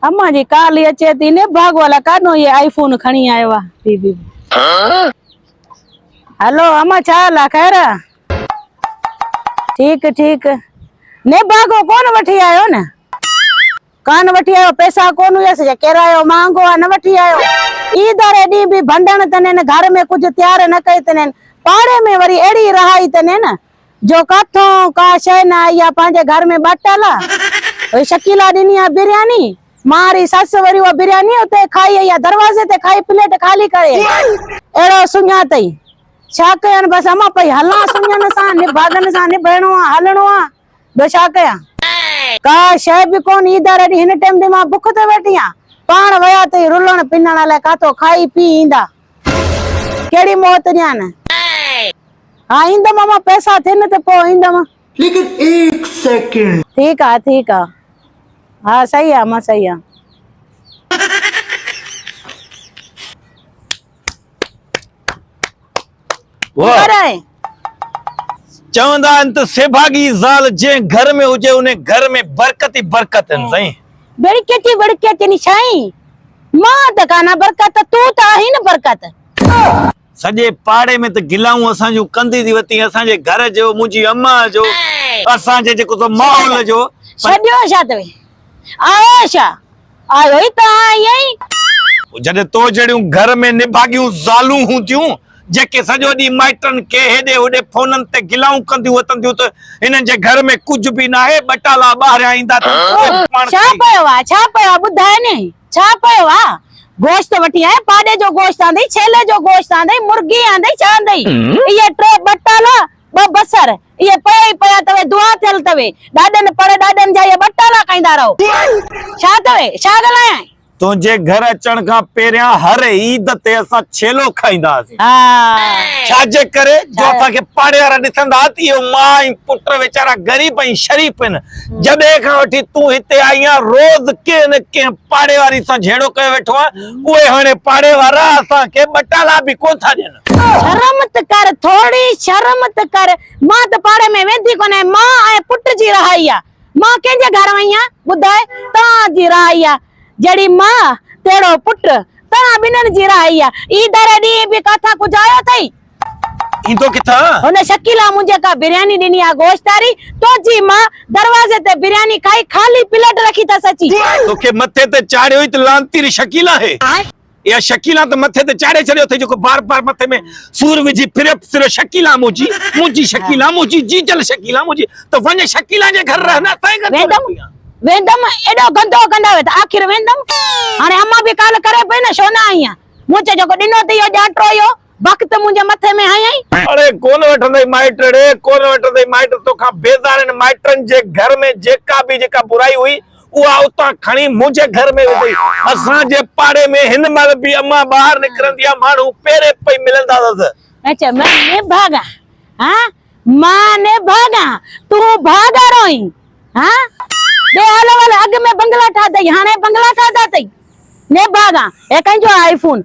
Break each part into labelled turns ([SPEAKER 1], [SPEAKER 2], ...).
[SPEAKER 1] امان جي ڪال ئي اچي ٿي ني ڀاڳو الا ڪاڏو هي آئي فون کڻي آيو آ بي بي هلو امان ڇا حال آ خير آ ٺيڪ ٺيڪ ني ڀاڳو ڪون وٺي آيو نه ڪان وٺي آيو پئسا ڪون هيس جا ڪرايو مهانگو آ نه وٺي آيو اي داري ڏي بي ڀنڊڻ تنين گهر ۾ ڪجهه تيار نه ڪئي تنين پاڙي ۾ وري اهڙي رهائي تنين جو ڪٿون ڪا شيء نه آئي آ پنهنجي گهر ۾ ٻاٽل آ وئي شڪيلا ڏني آ برياني مان ري سس وري اها برياني اتي کائي آئي آ دروازي تي کائي پليٽ خالي ڪري آئي اهڙو سڃان تئي ڇا ڪيان بس امان پئي هلان سڃان سان نڀاڳن سان نڀيڻو آ هلڻو آ ٻيو ڇا ڪيان ڪا شيء به ڪون اي دار اڏي هن ٽيم به مان بک تي ويٺي آ پاڻ ويا تئي رلڻ پنڻ الائي ڪاٿو کائي پي ايندا. ڪهڙي موت ڏيان؟ ها ايندم امان پئسا ٿين ته پوء ايندم. ليڪن هڪ
[SPEAKER 2] سيڪنڊ. ٺيڪ آ ٺيڪ آ.
[SPEAKER 1] ها صحيح آ امان صحيح آ. ڪرائين.
[SPEAKER 3] چوندا آهن ته سيڀاڳي زال جنهن گهر ۾ هجي ان گهر ۾ برڪت ئي برڪت آهن سائين. برڪت ئي برڪت
[SPEAKER 1] آهن سائين. مان ته ڪانه برڪت تون ته آهين نه برڪت. سڄي پاڙي
[SPEAKER 3] ۾ ته گلائون اسان جون ڪندي ٿي وتين اسان جي گهر جو منهنجي اماء جو اسان جي جيڪو سو ماحول جو. سڏيو ڇا اٿئي
[SPEAKER 1] آيو ڇا. آيو ئي ڪانه آئين. جڏهن
[SPEAKER 3] تو جهڙيون گهر ۾ نڀاڳيون زالون هونديون، جيڪي سڄو ڏينهن مائٽن کي هيڏي هوڏي فونن تي گلائون ڪنديون وتنديون ته هنن جي گهر ۾ ڪجهه به ناهي، ٻٽالا ٻاهريان ايندا ته پوء به پاڻ ڇا کائي. پيو
[SPEAKER 1] آ، ڇا پيو آ، ٻڌاء ني، ڇا پيو آ؟ گوشت وٺي آئين، پاڏي جو گوشت آندئي، ڇيلي جو گوشت آندئي، مرغي آندئي، ڇا آندئي؟ اهي ٽي ٻٽالا. ٻه بصر، اهي پيا ئي پيا اتوي، دعا ٿيل اتوي، ڏاڏن پڙ ڏاڏن جا اهي ٻه ٽالا کائيندا رهو. ڇا اتوي؟ ڇا ڳالهايانء؟ تنهنجي گهر
[SPEAKER 3] اچڻ کان پهريان هر عيد تي اسان ڇيلو کائيندا هئاسين. ها.
[SPEAKER 1] ڇا جي ڪري؟
[SPEAKER 3] جو اسان کي پاڙي وارا ڏسندا هئا ته اهي ماء ۽ پٽ ويچارا غريب ۽ شريف هن. جڏهن کان وٺي تون هتي آئي آهين، روز ڪنهن نه ڪنهن پاڙي واري سان جهيڙو ڪيو ويٺو آهين. اهي هاڻي پاڙي وارا اسان کي ٻه ٽالا به ڪونه ٿا ڏين. شرم ته ڪر
[SPEAKER 1] ٿورڙي شرم ته ڪر مان ته پاڙي ۾ ويندي ڪونه آهيان مان ۽ پٽ جي رهائي آ مان ڪنهن جي گهر وئي آهيان ٻڌاء توهان جي رهائي آ جهڙي ماء تهڙو پٽ توهان ٻنهن جي رهائي آ اي ڌري ڏينهن به ڪاٿان ڪجهه آيو اٿئي. ايندو
[SPEAKER 3] ڪٿان؟ هن شڪيلا منهنجي
[SPEAKER 1] ڪا برياني ڏني آ گوشتاري توجي مان دروازي تي برياني کائي خالي پليٽ رکي ٿس اچي. توکي مٿي تي
[SPEAKER 3] چاڙهيو ئي ته لعنتير شڪيلا هي اها شڪيلا ته مٿي تي چاڙهي ڇڏيو اٿئي جيڪو بار بار مٿي ۾ سور وجهي ڦريو ڦريو شڪيلا منهنجي منهنجي شڪيلا منهنجي جيجل شڪيلا منهنجي ته وڃ شڪيلا جي گهر رهه نه اسانجي گهر ڇو رهندي آ. ويندم ويندم
[SPEAKER 1] ايڏو گندو ڪندا ويت آخر ويندم هاڻي امان به ڪال ڪري پئي نه شو نه آئين آ منهنجي جيڪو ڏنو ٿئي اهو ڄاٽرو اهو. بخت منهنجي مٿي ۾ هنيئي. اڙي ڪونه وٺندئي
[SPEAKER 3] مائٽ اڙي ڪونه وٺندئي مائٽ توکان بيزارين مائٽن جي گهر ۾ جيڪا به جيڪا برائي هئي اها اتان کڻي منهنجي گهر ۾ وڌئي اسان جي پاڙي ۾ هن مهل به امان ٻاهر نڪرندي آهي ماڻهو پيري پئي ملندا اٿس. اچ مان
[SPEAKER 1] نڀاڳان ها مان نڀاڳان تون ڀاڳا روئين ها ڏي هل هل اڳ ۾ بنگلا ٺاهتئي هاڻي بنگلا ٺاهتا اٿئي نڀاڳان هي ڪنهن جو آهي آئي فون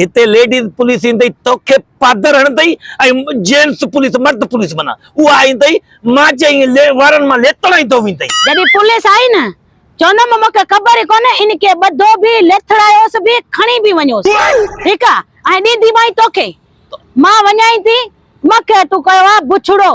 [SPEAKER 3] هتي ليڊيز پوليس ايندئي توکي پادر هڻندئي ۽ جينٽس پوليس مرد پوليس معنيٰ اها ايندئي مانجهي ائين وارن مان ليٿڙ ۽ ڌو ويندئي. جڏهن پوليس آئي نه
[SPEAKER 1] چوندم مونکي خبر ئي ڪونهي ان کي ٻڌو به ليٿڙايوس به کڻي به وڃوس ٺيڪ آ ۽ ڏينديمائين توکي مان وڃائين ٿي مکي تون ڪيو آ بڇڙو.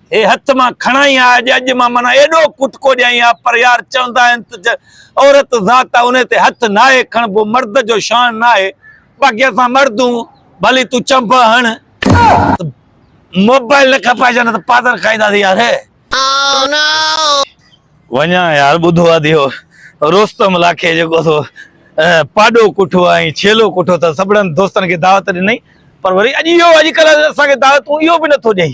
[SPEAKER 3] هي هٿ مان کڻائين آء جي اڄ مان منا ايڏو ڪٽڪو ڏيائين آء پر يار چوندا آهن ته جي عورت ذات آ انهي تي هٿ ناهي کڻبو مرد جو شان ناهي باقي اسان مردون ڀلي تون چنڀ هڻ ته موبائل نه کپائجان نه ته پادر کائيندا سين يار وڃان يار ٻڌو آ ديو رستم لاکي جيڪو سو پاڏو ڪٺو آئين ڇيلو ڪٺو ته سڀڙن دوستن کي دعوت ڏنئي پر وري اڄ اهو اڄڪلهه اسان کي دعوتون اهو به نٿو ڏئي.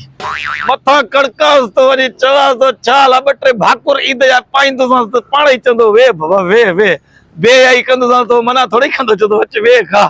[SPEAKER 3] مٿان ڪڙڪانس ٿو وڃي، چوانس ٿو ڇا لا ٻه ٽي ڀاڪر عيد جا پائيندوسانس ته پاڻ ئي چوندو ويهه بابا ويهه ويهه. بي حيائي ڪندوسانس ته اهو منع ٿورئي ڪندو، چوندو اچ ويهه کاء.